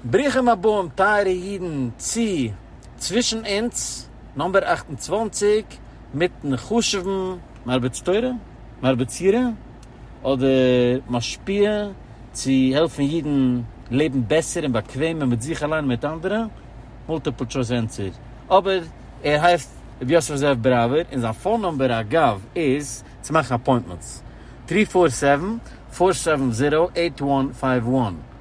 ברוכים הבאים טייערע אידן צו צווישן אונז נומבער אַכט און צוואַנציק מיטן חשובן מרביץ תורה, מרביץ יראה, אדער משפיע צו העלפן אידן לעבן בעסער און באקוועמער מיט זיך אליין און מיט אנדערע, מולטיפל טשויס ענטפער, אבער ער הייסט ר' יוסף זאב בראווער און זיין פאון נומבער אגב איז צו מאכן אפוינטמענטס, טרי פאר סעווען, פאר סעווען זירא, עיט וואן פייוו וואן.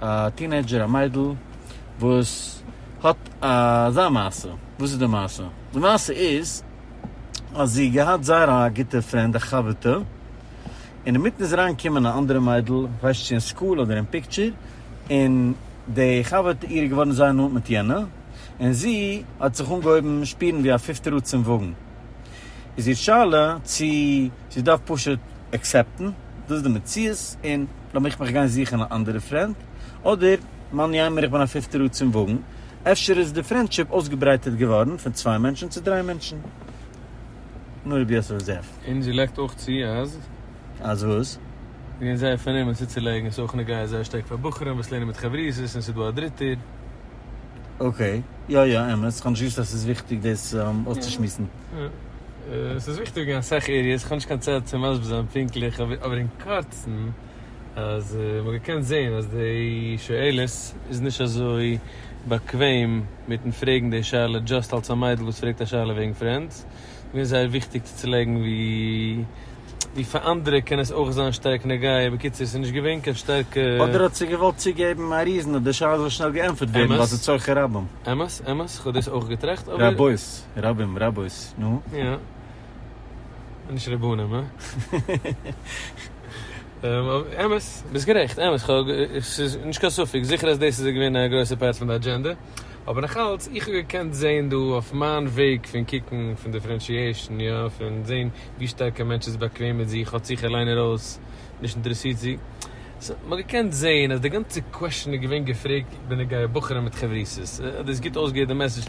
א טינעידזשער א מיידל וואס האט אזא מעשה, וואס איז די מעשה? די מעשה איז אז זי געהאט זייער א גוטע פרענד א חבר'טע און אינמיטן איז אריין געקומען א אנדערע מיידל איך ווייס נישט צו אין סקול אדער אין פיקטשער און די חבר'טע אירע איז געווארן זייער נאנט מיט יענע און זי האט זיך אנגעהויבן שפירן ווי א פיפטער רא צום וואגן איז איר שאלה צו זי דארף פשוט עקסעפטן דאס איז די מציאות און לאמיך מיך גיין זוכן א אנדערע פרענד, אדער מאן יימר איך בין א פיפטע רא צום וואגן, אפשר איז די פרענדשיפ אויסגעברייטערט געווארן פון צוויי מענטשן צו דריי מענטשן. נו ר' יוסף זאב. און זי לייגט אויך צו אז. אז וואס? זי איז זייער פארנומען צוצולייגן עס איז אויך נוגע זייער שטארק פאר בחורים וואס לערנען מיט חברותות און עס איז דא א דריטער. אקעי, יא יא אמת, כ'האב נישט געוואוסט אז ס'איז וויכטיג דאס אויסצושמועסן. עס איז וויכטיג אין אסאך עריעס, איך האב נישט קיין צייט צו מסביר זיין פונקטליך, אבער אין קורצן אז מען האט געקענט זעהן אז די שואלת איז נישט אזוי באקוועם מיטן פרעגן די שאלה דזשאסט אלס א מיידל וואס פרעגט א שאלה וועגן פרענדס, עס איז געווען זייער וויכטיג צו צולייגן ווי פאר אנדערע קען עס אויך זיין שטארק נוגע, בקיצור עס איז נישט געווען קיין שטארקע. אדער האט זי געוואלט צוגעבן א ריזן אז די שאלה זאל שנעל געענטפערט ווערן ווייל עס איז צורכי רבים. אמת, אמת, איך האב דאס אויך געטראכט אבער. רבות. רבים רבות, נו? יא. און נישט רבנים, הא? אמת, ביסט גערעכט, אמת, כ'האב, ס'איז נישט קיין ספק, זיכער אז דאס איז געווען א גרויסע פארט פון די אדזשענדע, אבער נאכאלץ, איך האב געקענט זען דא, אויף מיין וועג פון קוקן, פון דיפרענשיעישן, יא, פון זען ווי שטארק א מענטש איז באקוועם מיט זיך, האט זיך אליין ארויס, נישט אינטערעסירט זי, סא, מ'האט געקענט זען אז די גאנצע קוועשן איז געווען געפרעגט בנוגע בחורים מיט חברותות, האט דאס גוט אויסגעהערט די מעסעדזש.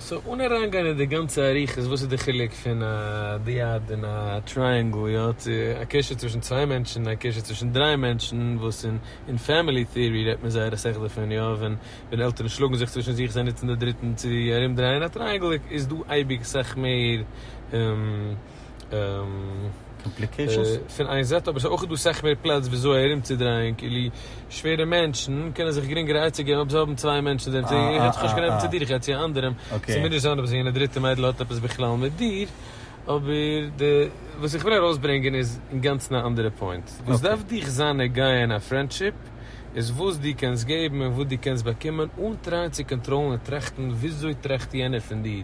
סאו אן אריינגיין אין די גאנצע אריכות וואס איז די חילוק פון א דיאד און א טרייענגל יא צו א קשר צווישן צוויי מענטשן א קשר צווישן דריי מענטשן וואס אין אין פעמילי טעארי רעדט מען זייער אסאך דערפון יא ווען ווען עלטערן שלאגן זיך צווישן זיך זיי נוצן די דריטן צו ארום דרייען א טרייענגל איז דא אייביג סאך מער קאמפליקעישאנס פון איין זייט אבער ס'איז אויך דא סאך מער פלאץ וויאזוי ארומצודרייען כאילו שווערע מענטשן קענען זיך גרינגער עצה געבן אויב זיי האבן צוויי מענטשן זיי זענען איך רעדט זיך נישט קיין עוון צו דיר איך רעדט צו אנדערעם ס'מוז נישט זיין אז יענע דריטע מיידל האט עפעס בכלל מיט דיר אבער די וואס איך וויל ארויסברענגען איז אינגאנצן א אנדערע פוינט וואס דארף דיך זיין נוגע אין א פרענדשיפ איז וואס דו קענסט געבן און וואס דו קענסט באקומען אן טרייען צו קאנטראלן און טראכטן וויאזוי טראכט יענער פון דיר.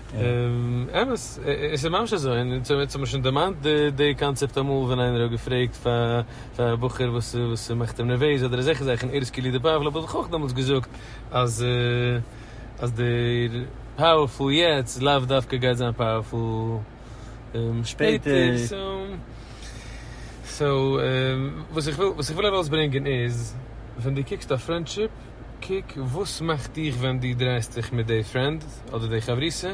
אמת, עס איז ממש אזוי, און אונז האמיר שוין דערמאנט די קאנצעפט אמאל ווען איינער האט געפרעגט פאר א בחור וואס מאכט אים נערוועז אדער אזעלכע זאכן, ער איז קולי דפאוול, האב איך אויך דעמאלטס געזאגט אז דער פאוערפול יעצט לאו דווקא גייט זיין פאוערפול שפעטער, סאו וואס איך וויל ארויסברענגען איז ווען דו קוקסט אויף פרענדשיפ, קוק וואס מאכט דיך ווען דו דרייסט דיך מיט די פרענד אדער די חברותא,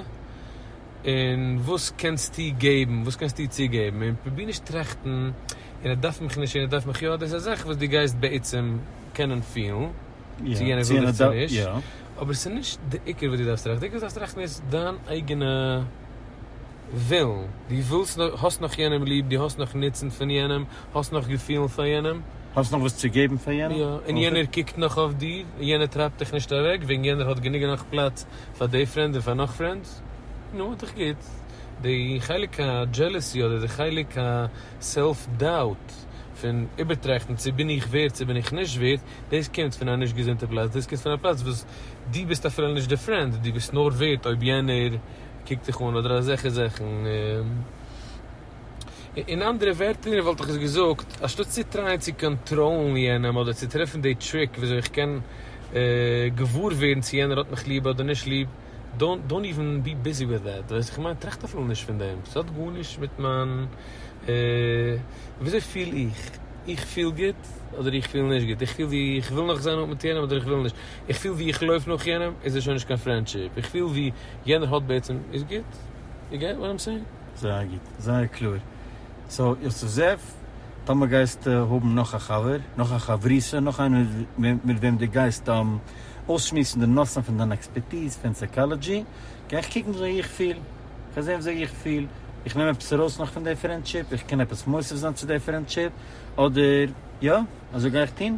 און וואס קענסטו געבן, וואס קענסטו צוגעבן, און פרוביר נישט טראכטן און ער דארף מיך נישט און ער דארף מיך יא, דאס איז א זאך וואס דו גייסט בעצם קענען פילן צו יענער וויל דיך צו נישט, אבער עס איז נישט די עיקר וואס דו דארפסט טראכטן, די עיקר וואס דו דארפסט טראכטן איז דיין אייגענע. ווילן, דו ווילסט נאך, האסט נאך יענעם ליב, דו האסט נאך נוצן פון יענעם, האסט נאך געפילן פאר יענעם. האסט נאך וואס צו געבן פאר יענעם. יא, און יענער קוקט נאך אויף דיר, און יענער טרייבט דיך נישט אוועק, וועגן יענער האט גענוג און נאך פלאץ פאר די פרענד און פאר נאך פרענדס. נו, איז דאך גוט. די חלק הדזשעלעסי אדער די חלק הסעלף דאוט, פון איבערטראכטן צו בין איך ווערד צו בין איך נישט ווערד, דאס קומט פון א נישט געזונטע פלאץ, דאס קומט פון א פלאץ וואס דו ביסט אפילו נישט די פרענד, דו ביסט נאר ווערד אויב יענער קוקט זיך אן אדער אזעלכע זאכן. אין אנדערע ווערטער וואלט איך עס געזאגט, אנשטאט צו טרייען צו קאנטראלן יענעם אדער צו טרעפן די טריק וויאזוי איך קען געוואר ווערן צו יענער האט מיך ליב אדער נישט ליב, דאנט איווען בי ביזי וויט דעט, ווייסט וואס איך מיין? טראכט אפילו נישט פון דעם, ס'האט גארנישט מיט מיין וויאזוי פיל איך, איך פיל גוט אדער איך פיל נישט גוט, איך פיל ווי איך וויל נאך זיין מיט יענעם אדער איך וויל נישט, איך פיל ווי איך לויף נאך יענעם איז עס שוין נישט קיין פרענדשיפ, איך פיל ווי יענער האט בעצם, איז גוט? יו געט וואט איים סעינג? זייער גוט, זייער קלאר. סאו יוסף זאב, טאמער גייסטו האבן נאך א חבר, נאך א חברותא, נאך איינער מיט וועם דו גייסט אויסשמועסן די נושאים פון דיין עקספערטיז פון סייקאלעדזשי, גיי איך קוקן ווי איך פיל, גיי זען וויאזוי איך פיל, איך נעם עפעס ארויס נאך פון די פרענדשיפ, איך קען עפעס מוסיף זיין צו די פרענדשיפ, אדער יא, אזוי גיי איך טון.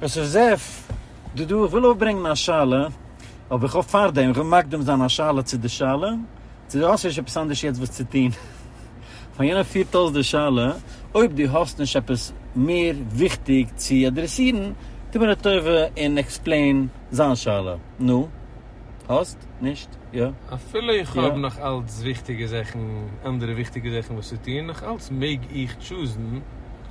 עס איז זעף די דא, איך וויל אויפברענגן א שאלה, אבער איך האף פארדעם, איך וויל מקדים זיין א שאלה צו די שאלה, צו דו האסט נישט עפעס אנדערש יעצט וואס צו טוהן, פאר יענער פירט אויס די שאלה, אויב דו האסט נישט עפעס מער וויכטיג צו אדרעסירן, טוה מיר א טובה און עקספלעין זיין שאלה, נו? האסט? נישט? יא? אפילו איך האב נאך אלץ וויכטיגע זאכן, אנדערע וויכטיגע זאכן וואס צו טוהן, נאך אלץ מעג איך טשוזן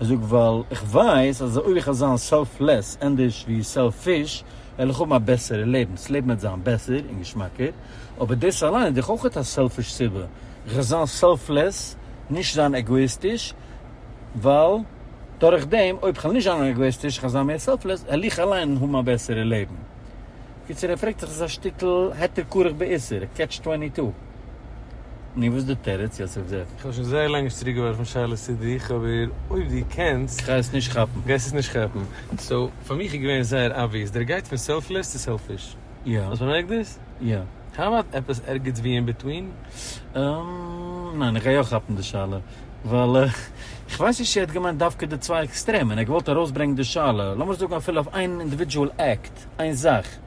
איך זאג ווייל איך ווייס אז אויב איך וועל זיין סעלפלעס ענדערש ווי סעלפיש וועל איך האבן א בעסערע לעבן, דאס לעבן וועט זיין בעסער און געשמאקער, אבער דאס אליין איז דאך אויך א סעלפיש סיבה, איך וועל זיין סעלפלעס, נישט זיין עגאאיסטיש, ווייל דורך דעם אויב כ'וועל נישט זיין עגאאיסטיש כ'וועל זיין מער סעלפלעס וועל איך אליין האבן א בעסערע לעבן. קיצור ער פרעגט זיך עס איז א שטיקל היתר כרך בעיסה, קעטש טווענטי טו. נו וואס איז די תירוץ יעצט אויף דער. כ'האב שוין זייער לאנג נישט צוריק געווארפן שאלות צו דיך אבער אויב דו קענסט. כ'גיי עס נישט כאפן. גייסט עס נישט כאפן. סאו פאר מיך איז געווען זייער אבוויעס דער גייט פון סעלפלעס צו סעלפיש. יא. האסט באמערקט דאס? יא. האו אבאוט עפעס ערגעץ ווי אין ביטווין? אהמ. ניין איך גיי יא כאפן די שאלה ווייל כ'ווייס נישט צו ער האט געמיינט דווקא די צוויי עקסטרעמען ער האט געוואלט ארויסברענגן די שאלה לאמיר זאגן אפילו אויף איין אינדיווידזשועל עקט איין זאך.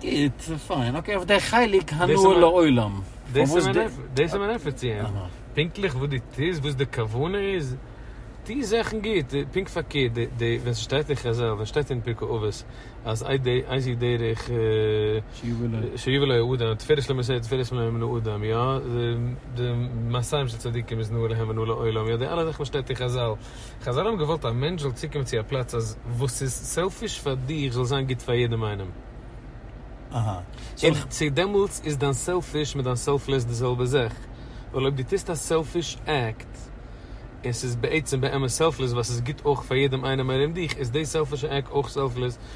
גוט, פיין, אקעי אויף דער חלק הנאה לעולם. דאס איז מיין ענטפער צו אים, פונקטליך וואס דו טוסט, וואס די כוונה איז, טו זאכן גוט, פונקט פארקערט, ווען ס'שטייט אין חז ל, ווען ס'שטייט אין פרקי אבות, אז איז די דרך שיבא לו האדם, תפארת שלמה סער תפארת שלמה מן האדם, יא, די מעשים של צדיקים איז נאה להם ונאה לעולם, יא, די אלע זאכן וואס שטייט אין חז ל. חזל האבן געוואלט א מענטש זאל צוקומען צו א פלאץ אז וואס איז סעלפיש פאר דיר זאל זיין גוט פאר יעדעם איינעם. און צו דעמאלטס איז דיין סעלפיש מיט דיין סעלפלעס די זעלבע זאך, ווייל אויב דו טוסט א סעלפיש עקט און ס'איז בעצם באמת סעלפלעס ווייל ס'איז גוט אויך פאר יעדעם איינעם ארום דיך, איז די סעלפישע עקט אויך סעלפלעס,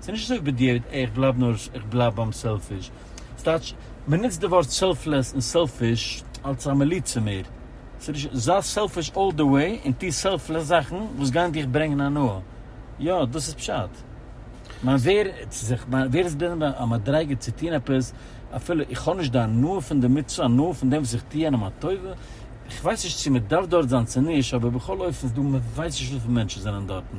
ס'איז נישט אזוי בדיעבד עי' איך בלייב נאר איך בלייב ביים סעלפיש. ס'טייטש מען נוצט די ווארט סעלפלעס און סעלפיש אלס א מליצה מער. ס'נישט זיי סעלפיש אלל די וועי און טו סעלפלעס זאכן וואס גייען דיך ברענגן הנאה. יא דאס איז פשט. מיין ווערד צו זיך מיין ווערד איז בנוגע א מדריגה צו טון עפעס אפילו איך האב נישט די הנאה פון די מצוה הנאה פון דעם וואס איך טו איינעם א טובה. איך ווייס נישט צו מען דארף דארט זיין צו נישט אבער בכל אופן ס'דא מען ווייסט נישט וויפיל מענטשן זענען דארטן.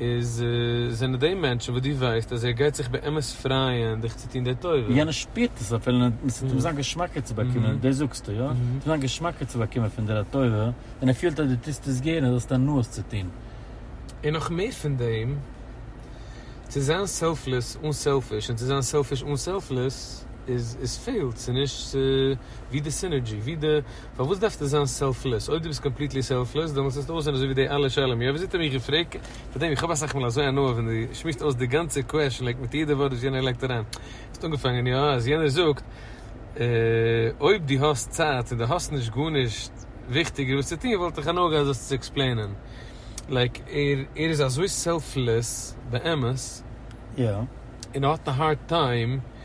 איז זענען די מענטשן וואס דו ווייסט אז ער גייט זיך באמת פרייען דיך צו טון די טובה. יענער שפירט עס אפילו ניט און ס'טוט אים זיין געשמאקער צו באקומען, דאס זאגסטו, יא? טוט זיין געשמאקער צו באקומען פון דיר א טובה, און ער פילט אז דו טוסט עס גערן, זאלסטו הנאות צו טון. און נאך מער פון דעם, צו זיין סעלפלעס אן סעלפיש און צו זיין סעלפיש אן סעלפלעס, איז עס פעלט, ס'איז נישט, ס'איז ווי די סינערדזשי, ווי די. פארוואס דארפסטו זיין סעלפלעס? אויב דו ביסט קאמפליטלי סעלפלעס דעמאלטס וועסטו אויסזען אזוי ווי די אלע שלום יעקב זיטער מיך געפרעגט פארדעם איך האב אסאך מאל אזוי הנאה ווען דו שמועסט אויס די גאנצע קוועשן לייק מיט יעדע ווארט וואס יענער לייגט אריין האסט אנגעפאנגען יא אז יענער זאגט אויב דו האסט צייט און דו האסט נישט גארנישט וויכטיגער וואס צו טון וואלט איך הנאה געהאט דאס צו עקספלעינען לייק ער ער איז אזוי סעלפלעס באמת יא. און ער האט א הארד טיים.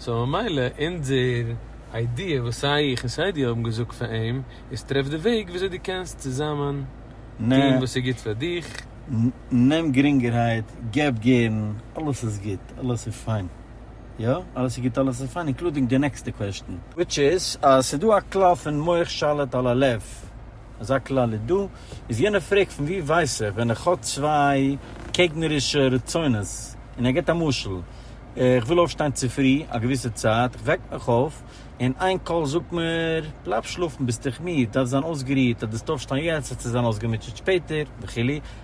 סאו ממילא אונזער איידיע וואס סיי איך און סיי דו האבן געזאגט פאר אים איז טרעף די וועג וויאזוי דו קענסט צוזאמען טוהן וואס איז גוט פאר דיך. נעם גרינגערהייט, געב גערן, אלעס איז גוט, אלעס איז פיין. יא, אלעס איז גוט, אלעס איז פיין, אינקלודינג די נעקסטע קוועשטען. וויטש איז, אז ס'איז דא א כלל פון מוח שליט על הלב, אזא כלל איז דא, איז יענער פרעגט פון וואו ווייס איך ווען איך האב צוויי קעגנערישע רצונות, און ער גיבט א משל, איך וויל אויפשטיין צופרי א געוויסע צייט, איך וועק מיך אויף, און איין קול זאגט מיר, בלייב שלאפן ביסט דיך מיד, דארפסט זיין אויסגערוהט, אז דארפסט אויפשטיין יעצט וועסטו זיין אויסגעמוטשעט שפעטער, וכו',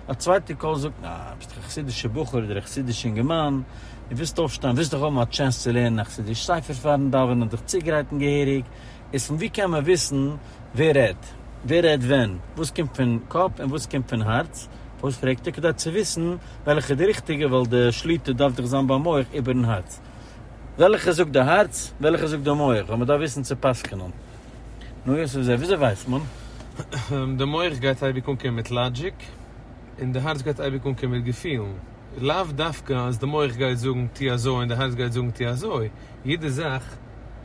א צווייטע קול זאגט מיר, אה, ביסט דאך א חסידישע בחור אדער א חסידיש אינגערמאן, דו ווילסט אויפשטיין, ווילסט דאך האבן א טשענס צו לערנען א חסידיש ספר פארן דאווענען, דיך צוגרייטן געהעריג, איז פון וואו קען מען וויסן ווער רעדט? ווער רעדט ווען? וואס קומט פון קאפ און וואס קומט פון הארץ? וואס פרעגט ער כדי צו וויסן וועלכע איז די ריכטיגע, ווייל די שליטה דארף דאך זיין ביים מח איבערן הארץ. וועלכע זאגט די הארץ, וועלכע זאגט די מח, ווייל מען דארף וויסן צו פסק'נען. נו יוסף זאב, וויאזוי ווייסט מען? די מח גייט אייביג אנקומען מיט לאגיק, און די הארץ גייט אייביג אנקומען מיט געפילן. לאו דווקא אז די מח גייט זאגן טו אזוי און די הארץ גייט זאגן טו אזוי. יעדע זאך.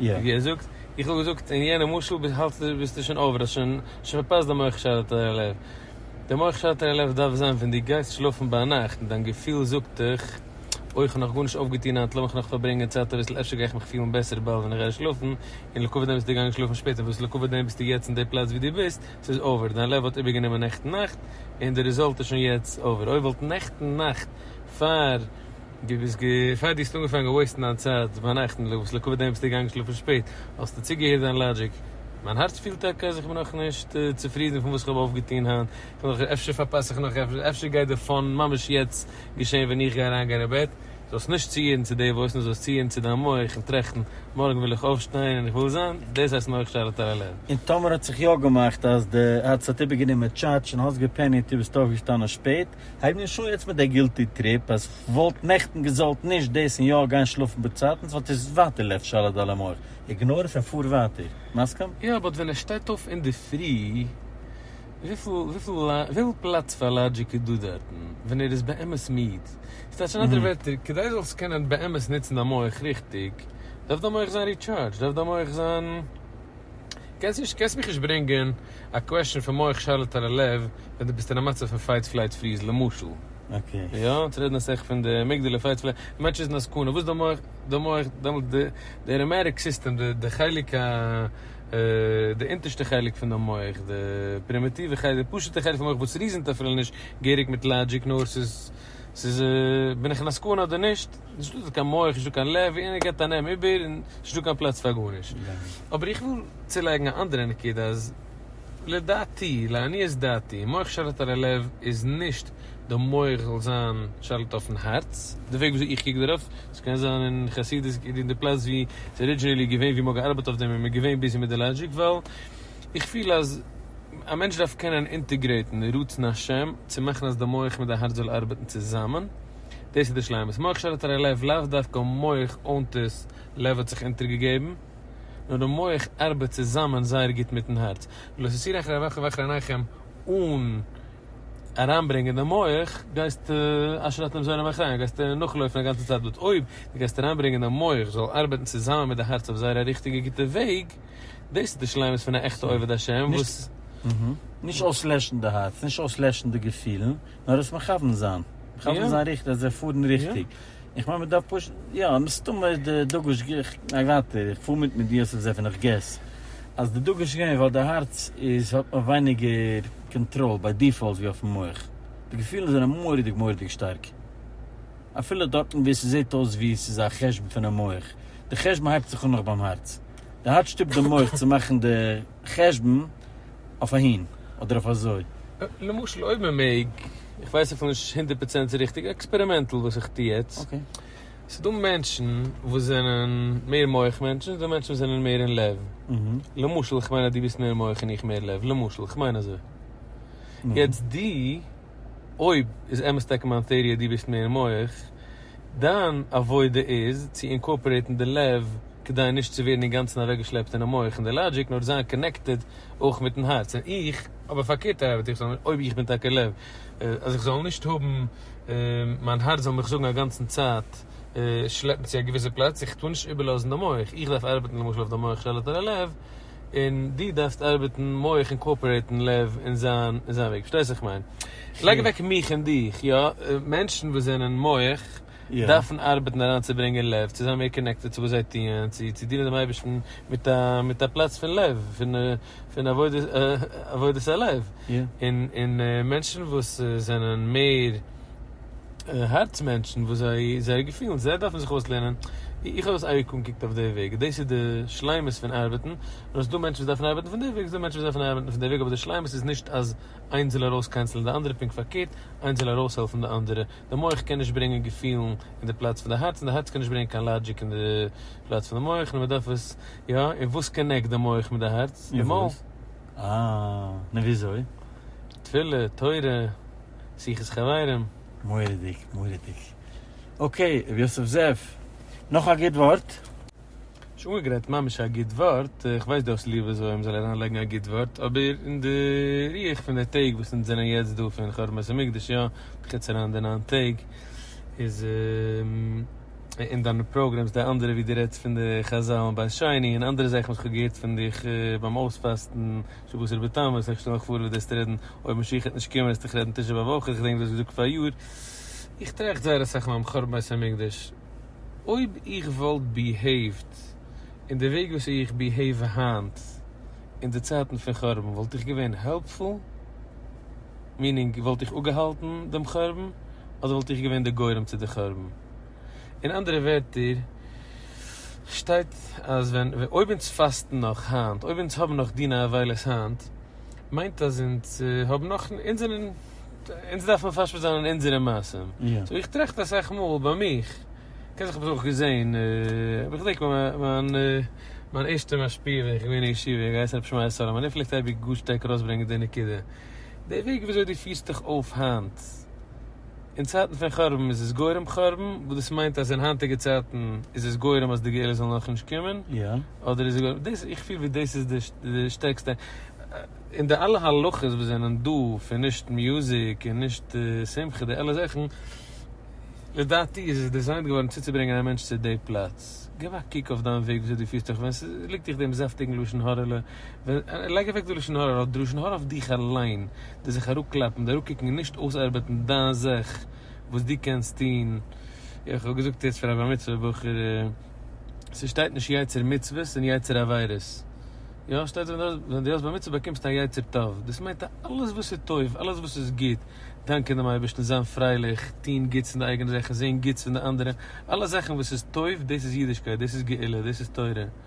ווי ער זאגט, איך האב געזאגט אין יענע משל האלטסטו ביסטו שוין אויבער האסט שוין פארפאסט די מח שרת אל הלב, די מח שרת אל הלב דארף זיין ווען דו גייסט שלאפן ביינאכט און דיין געפיל זאגט דיך אוי איך האב נאך גארנישט אויפגעטון היינט לאמיך נאך פארברענגען צייט אביסל אפשר גיי איך מיך פילן בעסער באלד ווען איך גיי שלאפן, און לעקאווע דעם ביסטו געגאנגען שלאפן שפעט און וואס לעקאווע דעם ביסטו יעצט אין די פלאץ ווי דו ביסט, ס'איז אויבער, דיין לב האט איבערגענומען נעכטן נאכט און די רעזאלט איז שוין יעצט אויבער, אוי וואלט נעכטן נאכט פאר. דו ביסט גע פאר דו האסט אנגעפאנגען וועיסטן דיין צייט ביינאכטן וואס לעקאוויט דעם ביסטו געגאנגען שלאפן שפעט האסטו צוגעהערט זיין לאגיק מיין הארץ פילט טאקע אז איך בין נאכנישט צופרידן פון וואס איך האב אויפגעטון היינט איך בין נאך אפשר פארפאס איך נאך עפעס אפשר גייט די פאן ממש יעצט געשען ווען איך גיי אריינגיין אין בעט זאלסט נישט צוהערן צו די וואויס נאר זאלסט צוהערן צו דיין מח און טראכטן מארגן וויל איך אויפשטיין און איך וויל זיין דאס הייסט מח שלה טראלעלע. און טאמער האט זיך יא געמאכט אז די הארץ האט איבערגענומען טשאטש און האסט געפעניט און ביסט אויפגעשטאנען שפעט הייב נישט אן יעצט מיט די גילטי טריפ אז כ'וואלט נעכטן געזאלט נישט דאס און יא גיין שלאפן בצייטנס ווייל ס'איז ווייטער לב שלד על המוח. איגנאר עס און פאר ווייטער. מסכים? יא באט ווען ער שטייט אויף אינדערפרי וויפיל פלאץ פאר לאגיק איז דא דארטן ווען ער איז באמת מיד? ס'טייטש אין אנדערע ווערטער כדי זאלסט קענען באמת נוצן דיין מח ריכטיג דארף דיין מח זיין ריטשארדזשד דארף דיין מח זיין. קענסט נישט קענסט מיך נישט ברענגען א קוועשען פון מח שרלת על הלב ווען דו ביסט אין א מצב פון פייט פלייט פריז למשל יא צו רעדן אז סך פון די אמיגדעלע פייט פלייט די מענטש איז אין א סכנה וואס די מח די מח דעמאלטס די די אראמעטיק סיסטעם די די חלק א די אונטערשטע חלק פון די מח די פרימיטיווע חלק די פשוטע חלק פון מח וואס ריזענט אפילו נישט געהעריג מיט לאגיק נאר ס'איז ס'איז בין איך אין א סכנה אדער נישט. נישט דא קיין מח נישט דא קיין לב איינער געט א נעם איבער און נישט דא קיין פלאץ פאר גארנישט אבער איך וויל צולייגן א אנדערע נקודה אז לדעתי לעניות דעתי מח שליט על הלב איז נישט די מח זאל זיין שליט אויפן הארץ די וועג וויאזוי איך קוק דערויף עס קען זיין אין חסידות אין די פלאץ ווי עס איז ארידזשינעלי געווען ווי מ'האט געארבעט אויף דעם און מ'איז געווען ביזי מיט די לאגיק ווייל איך פיל אז א מענטש דארף קענען אינטעגרעיטן רצון השם צו מאכן אז די מח מיט די הארץ זאל ארבעטן צוזאמען. דאס איז די שלימות. מח שררת הרי לב, לאו דווקא מח אנטעס לב האט זיך אונטערגעגעבן, נאר די מח ארבעט צוזאמען זייער גוט מיטן הארץ. ולא תסיר אחרי אביכם ואחרי אנכם, אן אריינברענגען די מח, גייסטו אשר אתם זורעים אחריהם, גייסטו נאכלויפן א גאנצע צייט. בעת אויב דו גייסט אריינברענגען די מח זאל ארבעטן צוזאמען מיט די הארץ אויף זייער א ריכטיגע גוטע וועג, דאס איז די שלימות פון א עכטע עובד השם וואס. נישט אויסלעשן די הארץ, נישט אויסלעשן די געפילן. נאר עס מכוון זיין, מכוון זיין ריכטיג אז זיי פארן ריכטיג, איך מיין מען דארף פשוט, יא מסתמא איז די דגוש ג, איך גיי ווייטער, איך פאר מיט מיט די יוסף זעף און איך געס אז די דגוש איז געווען ווייל די הארץ איז האט נאך ווייניגער קאנטראל ביי דיפאלט ווי אויפן מח, די געפילן זענען מורא'דיג מורא'דיג שטארק אפילו דארטן ווי ס'זעט אויס ווי ס'איז א חשבון פונעם מח, די חשבון הייבט זיך אן נאך ביים הארץ, די הארץ שטופט די מח צו מאכן די. חשבון אויף אהין אדער אויף אזוי. למשל אויב מען מעג, איך ווייס אפילו נישט הונדערט פראצענט ריכטיג, עקספערימענטל וואס איך טוה יעצט, ס'איז דא מענטשן וואס זענען מער מח מענטשן, ס'איז דא מענטשן וואס זענען מער אין לב, למשל כ'מיין אז דו ביסט מער מח און איך מער לב, למשל כ'מיין אזוי, יעצט דו. אויב איז אמת טאקע מיין טעאריע דו ביסט מער מח, דיין עבודה איז צו אינקארפארעיטן די לב כדי נישט צו ווערן אינגאנצן אוועקגעשלעפט אינעם מח און די לאגיק נאר זיין קאנעקטעד אויך מיטן הארץ און איך האב א פארקערטע ארבעט איך זאל אויב איך בין טאקע לב אז איך זאל נישט האבן מיין הארץ זאל מיך זאגן אגאנצן צייט שלעפן צו א געוויסע פלאץ איך טאר נישט איבערלאזן די מח איך דארף ארבעטן למשל אויף די מח שליט על הלב. און דו דארפסט ארבעטן מח און קאאפערעיטן לב אין זיין אין זיין וועג, פארשטייסט וואס איך מיין? לייג אוועק מיך און דיך, יא, מענטשן וואס זענען מח דארפן ארבעטן אריינצוברענגען לב צו זיין מער קאנעקטעד צו וואס זיי טוען, צו צו דינען דעם אייבערשטן מיט א מיט א פלאץ פון לב, פון פון עבודת עבודת הלב, און און מענטשן וואס זענען מער. הארץ מענטשן וואס זיי זייער געפילן זיי דארפן זיך אויסלערנען, איך האב עס אייביג אנגעקוקט אויף די וועג, דאס איז די שלימות פון ארבעטן, און עס איז דא מענטשן וואס דארפן ארבעטן פון די וועג, עס איז דא מענטשן וואס דארפן ארבעטן פון די וועג, אבער די שלימות איז נישט אז איינס זאל ארויס קענסלען די אנדערע, פונקט פארקערט, איינס זאל ארויסהעלפן די אנדערע, די מח קען נישט ברענגען געפילן אין די פלאץ פון די הארץ, און די הארץ קען נישט ברענגען קיין לאגיק אין די פלאץ פון די מח, נו מען דארף עס יא, און וואס קאנעקט די מח מיט די הארץ? די מויל. אה, נו וויאזוי? תפילה, תורה. שיחות חברים. מורא'דיג, מורא'דיג. אקעי, ר' יוסף זאב, נאך א גוט ווארט? נישט אנגעגרייט ממש א גוט ווארט, איך ווייס דו האסט ליב אז עולם זאל אריין לייגן א גוט ווארט, אבער אין די רוח פון די טעג וואס אונז זענען יעצט דא פון חורבן בית המקדש יא, בחוץ אריין די נײַן טעג, איז אין דיינע פראגרעמס די אנדערע ווי דו רעדסט פון די חזל און בית שני און אנדערע זאכן וואס איך האב געהערט פון דיך ביים אויספאסטן, שו ב ס'רבי תם, איך שטעל מיך פאר ווי דארסט רעדן אויב משיח העט נישט קומען העסט איך רעדן תשעה באב אויך, איך געדענק דאס געזאגט פאריאר, איך טראכט זייער אסאך נאכן חורבן בית המקדש, אויב איך וואלט ביהעיווט אין די וועג וויאזוי איך ביהעיוו היינט אין די צייטן פון חורבן וואלט איך געווען העלפפול? מיענינג וואלט איך אפגעהאלטן דעם חורבן אדער וואלט איך געווען די גורם צו די חורבן? אין אנדערע ווערטער שטייט אז ווען אויב אונז פאסטן נאך היינט אויב אונז האבן נאך דיני אבילות היינט מיינט אז אונז האבן נאך אונז זענען אונז דארף מען פארשפעט זיין אין אונזערע מעשים סאו איך טראכט אסאך מאל ביי מיך כ'קען זיך האב עס אויך געזעהן אבער איך דענק מיין מיין ערשטע משפיע ווען איך געווען אין ישיבה געהייסן ר' שמעי' סאלאמאן ער פלעגט אייביג גאר שטארק ארויסברענגען די נקודה די וועג וויאזוי די פירסט דיך אויף היינט. אין צייטן פון חרבן איז עס גורם חרבן, וואס דאס מיינט אז אין היינטיגע צייטן איז עס גורם אז די גאולה זאל נאך נישט קומען, אדער איז עס גורם, דאס איך פיל ווי דאס איז די שטערקסטע, און די אלע הלכות וואס זענען דא פון נישט מוזיק און נישט שמחה די אלע זאכן, לדעתי איז עס דיזיינט געווארן צוצוברענגען א מענטש צו די פלאץ, געב א קוק אויף דיין וועג וויאזוי דו פירסט דיך ווען ס'ליגט דיך דעם זאפטיגן לשון הרע'לע. לייג אוועק די לשון הרע, די לשון הרע אויף דיך אליין, די זיך אראפקלאפן, די אראפקוקן און נישט אויסארבעטן דיין זאך וואס דו קענסט טון, איך האב געזאגט יעצט פאר א בר מצוה בחור, ס'שטייט נישט יצר מצוות און יצר עבירות, יא ס'שטייט ווען דו האסט בר מצוה באקומסטו א יצר טוב, דאס מיינט אז אלעס וואס איז טוב, אלעס וואס איז גוט, דאנקען דעם אייבערשטן, זיין פרייליך, טון גוטס אין די אייגענע זאכן, זען גוטס אין די אנדערע, אלע זאכן וואס איז טוב, דאס איז אידישקייט, דאס איז גאולה, דאס איז תורה.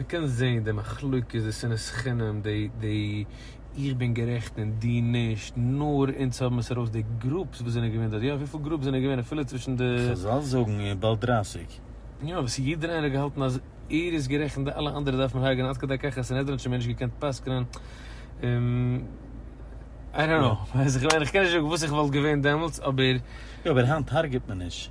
מ'קען זעהן די מחלוקת, די שנאת חינם, די די איך בין גערעכט און דו נישט, נאר אונז האבן עס ארויס די גרופס וואס זענען געווען דארט, יא וויפיל גרופס זענען געווען אפילו צווישן די. כ'זאל זאגן איר באלד דרייסיג. יא וואס יעדער איינער האט געהאלטן אז ער איז גערעכט און די אלע אנדערע דארף מען הרג'ענען עד כדי כך אז סנהדרין האט שוין מער נישט געקענט פסק'נען, איי דאנט נאו, איך מיין איך קען נישט זאגן וואס איך וואלט געווען דעמאלטס אבער. יא אבער היינט הרג'עט מען נישט.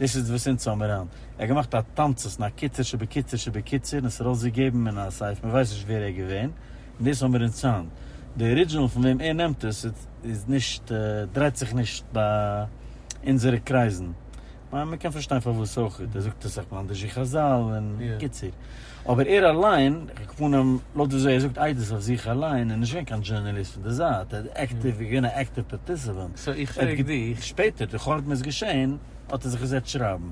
דאס איז וואס אונז האמיר היינט. ער האט געמאכט א תמצית און א קיצור שבקיצור שבקיצור און עס ארויסגעגעבן אין א סעיף, מען ווייסט נישט ווער ער איז געווען, און דאס האמיר אונז היינט. די ארידזשינעל פון וועם ער נעמט עס איז נישט, דרייט זיך נישט ביי אונזערע קרייזן. מען קען פארשטיין פארוואס אויך, ער זאגט עס אויף מאנדעזשי חזל און קיצור. אבער ער אליין, כפנים, לויט וויאזוי ער זאגט איידעס אויף זיך אליין, איז נישט געווען קיין דזשורנאליסט פון די זייט, ער האט אקטיוו, איז געווען א עקטיוו פארטיסיפענט. סאו איך פרעג דיך. שפעטער, דורך אט מען איז געשען, האט ער זיך געזעצט שרייבן.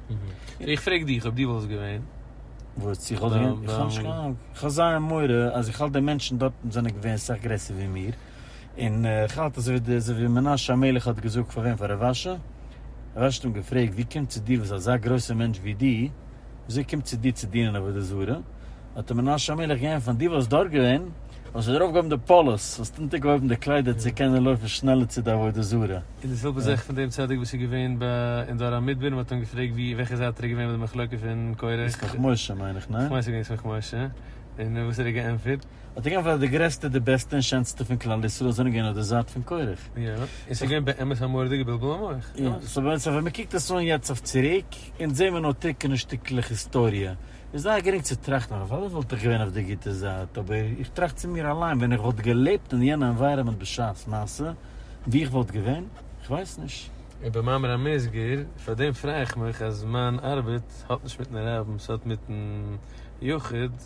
סאו איך פרעג דיך אויב דו וואלסט געווען. וואס? איך וואלט געווען? איך האב נישט קיין אנונג. איך האב זייער מורא אז איך האלט די מענטשן דארטן זענען געווען סאך גרעסער ווי מיר. און כ'האלט אז אזוי ווי מנשה המלך האט געזאגט פאר וועם פאר רב אשי, רב אשי האט אים געפרעגט ווי קומט צו דיר וואס אזא גרויסע מענטש ווי דו, וויאזוי קומט צו דיר צו דינען עבודה זרה, האט אים מנשה המלך געענטפערט דו וואלסט דארט געווען, וואלסטו ארויף געהויבן די פאלוס, וואלסט אונטער געהויבן די קליידער צו קענען לויפן שנעלער צו די עבודה זרה. און די זעלבע זאך פון דעם צדיק וואס איז געווען אין דור המדבר און מען האט אים געפרעגט ווי וועלכע זייט ער איז געווען ביי די מחלוקה פון קורח, סמך משה מיין איך ניין? כ'מיין ס'איז געווען סמך משה, און וואס האט ער געענטפערט? האט ער געענטפערט אז די גרעסטע די בעסטע און שענסטע פון כלל ישראל זענען געווען אויף די זייט פון קורח. יא, און ס'איז געווען באמת א מורא'דיגע בלבול המוח. יא, סאו באמת ווען מ'קוקט עס אן יעצט אויף צוריק, אונז זעהן מיר נאר טרוקענע שטיקלעך היסטאריע, איז זייער גרינג צו טראכטן אז אוודאי וואלט איך געווען אויף די גוטע זייט, אבער איך טראכט צו מיר אליין, ווען איך וואלט געלעבט אין יענע ענווייראמענט בשעת מעשה, ווי איך וואלט געווען? איך ווייס נישט. און במאמר המוסגר, פאר דעם פריי איך מיך אז מיין ארבעט האט נישט מיטן רבין, ס'האט מיטן יחיד.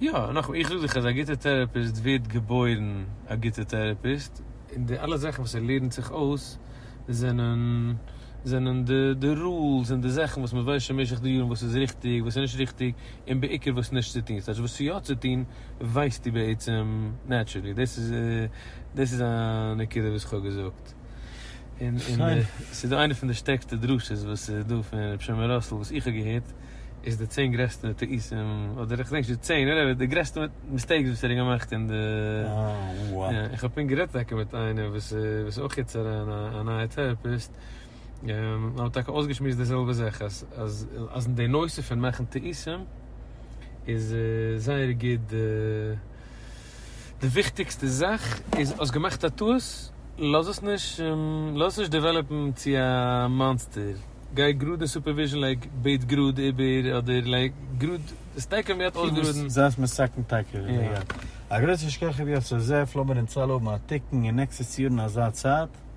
יא, נאכמער, איך זאג דיך אז א גוטע טערעפיסט ווערט געבוירן א גוטע טערעפיסט, און די אלע זאכן וואס ער לערנט זיך אויס זענען זענען די די רולס און די זאכן וואס מען ווייסט שוין במשך די יארן וואס איז ריכטיג וואס איז נישט ריכטיג, און בעיקר וואס נישט צו טון, ס'הייסט וואס יא צו טון ווייסטו בעצם נעטשורלי, דאס איז דאס איז א נקודה וואס איך האב געזאגט, און און ס'איז דא איינע פון די שטערקסטע דרשות וואס איז דא פון ר' שלמה ראסל וואס איך האב געהערט. איז די צען גרעסטע טעותים, אדער איך דענק נישט די צען, וואטעווער, די גרעסטע מיסטעיקס וואס ער האט געמאכט אין די, איך האב פונקט גערעדט טאקע מיט איינער וואס איז אויך יעצט אריין א נייע טעראפיסט, מיר האבן טאקע אויסגעשמועסט די זעלבע זאך, אז אז אז אין די נושא פון מאכן טעותים איז זייער גוט די. די וויכטיגסטע זאך איז האסט געמאכט א טעות לאז עס נישט לאז עס נישט דעוועלאפן צו א מאנסטער גיי גראד אין סופערוויזשן לייג בעט גראד איבער אדער לייג גראד די סטעק ווען מען האט אויסגעראדן. זייסט מסכן טאקע יא. א גרויסע שכח רבי יוסף זאב, לאמיר אונז אלע האבן א תיקון און נעקסטעס יאר אין אזא צייט.